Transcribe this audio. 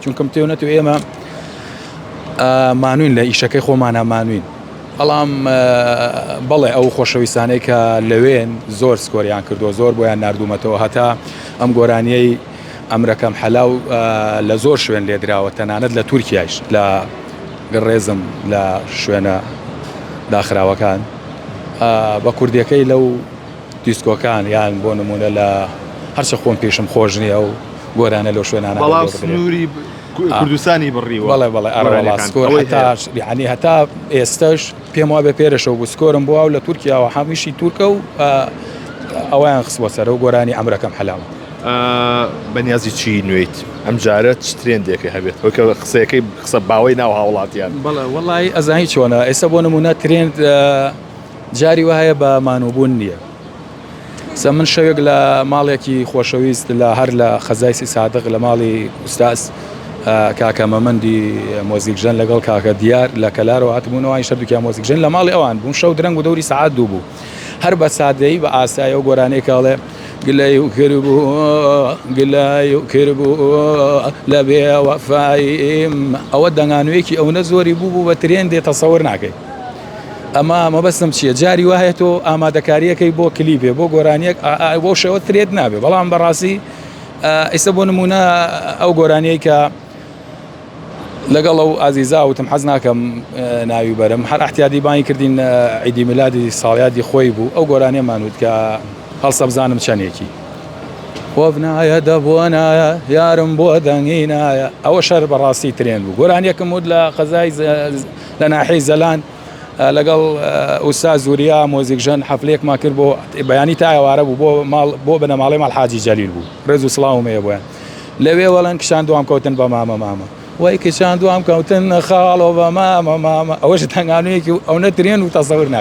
چونکە متێو نەتێو ئێمە مانوین لە ئیشەکەی خۆمانە مانوین بەڵام بەڵێ ئەو خۆشەویستانەی کە لەوێن زۆر سکۆریان کردو زۆر بۆیان نردومەتەوە هەتا ئەم گۆرانیەی ئەمرەکەم حەلاو لە زۆر شوێن لێدراوە تەنانەت لە تورکایش لە گڕێزم لە شوێنە داخراوەکان بە کوردیەکەی لەو دیسکۆکان یان بۆ نمونە لە هەرچە خۆم پیشم خۆش نییە و گۆرانە لەو شوێنانە بەڵام بەڕێوە ببرێت. سنووری کو- آه. کوردستانی بڕیوە بەڵێ بەڵێ ئەرەوەڵا گۆرانیەکان. سکۆر ئەوەی هەتا هەیە. یەعنی هەتا ئێستەش پێم وابێ پێرەشەو بوو سکۆرم بۆ ئەو لە تورکیاوە حەمیشی تورکە و ئا، ئەوەیان خستووە سەرە و گۆرانی عەمرەکەم حەلالە. ئا، بەنیازی چی نوێیت ئەمجارە چ ترێندێکە هەبێت هۆی کە قسەیەکەی قسە باوەی ناو هاوڵاتیان. بەڵێ وەڵایی ئەزانی چۆنە ئێستا بۆ نموونە ترێند ئا، جاری وایە بە مانووبوون نییە. سە من شەوێک لە ماڵێکی خۆشەویست لە هەر لە خەزای سی سادق لە ماڵی ئوستاز کاکە مەمەندی مۆزیکژەن لەگەڵ کاکە دیار لە کەلارەوە هاتبوونەوە ئای شەردوکیان مۆزیکژەن لە ماڵی ئەوان بووم شەو درەنگ و دەوری سەعات دوو بوو هەر بە سادەی بە ئاسایە و گۆرانێک کاڵێ گلەی و کربوو گلای و کربوو لە بێ وەفایم ئەوە دەنگانوێکی ئەوەنە زۆری بوو بوو بە ترێن دێ تەسەور ناکەی ئەما مەبەستم چییە جاری وایە تۆ ئامادەکاریەکەی بۆ کلیبێ بۆ گۆرانیەک بۆ شەوە ترێت نابێ بەڵام بەڕاستی ئیسە بۆ نمونە ئەو گۆرانیەی کە لەگەڵ ئەو ئازیزاوتم حەز ناکەم ناوی بەرم هەر احتیادی بانی کردین عیدی ملادی ساڵیادی خۆی بوو ئەو گۆرانیەمانوت کە هەڵسە بزانم چەندێکی وەبنایە دەبوونایە یارم بۆ دەنگینایە ئەوە شەر بەڕاستی ترێن بوو گۆرانیەکەم وت لە قەزای لە ناحیەی زەلان لەگەڵ ئوستاز وریا مۆزیکژەن حەفلەیەکمان کرد بۆ بەیانی تا ئێوارە بوو بۆ ماڵ بۆ بنەماڵەی ماڵ حاجی جەلیل بوو ڕێز و سڵاوم هەیە بۆیان لەوێ وەڵەن کشان دوام کەوتن بە مامە مامە وای کشان دوام کەوتن خاڵۆ بە مامە مامە ئەوەش تەنگانویەکی و ئەو نەترێن و تەسەور ناکە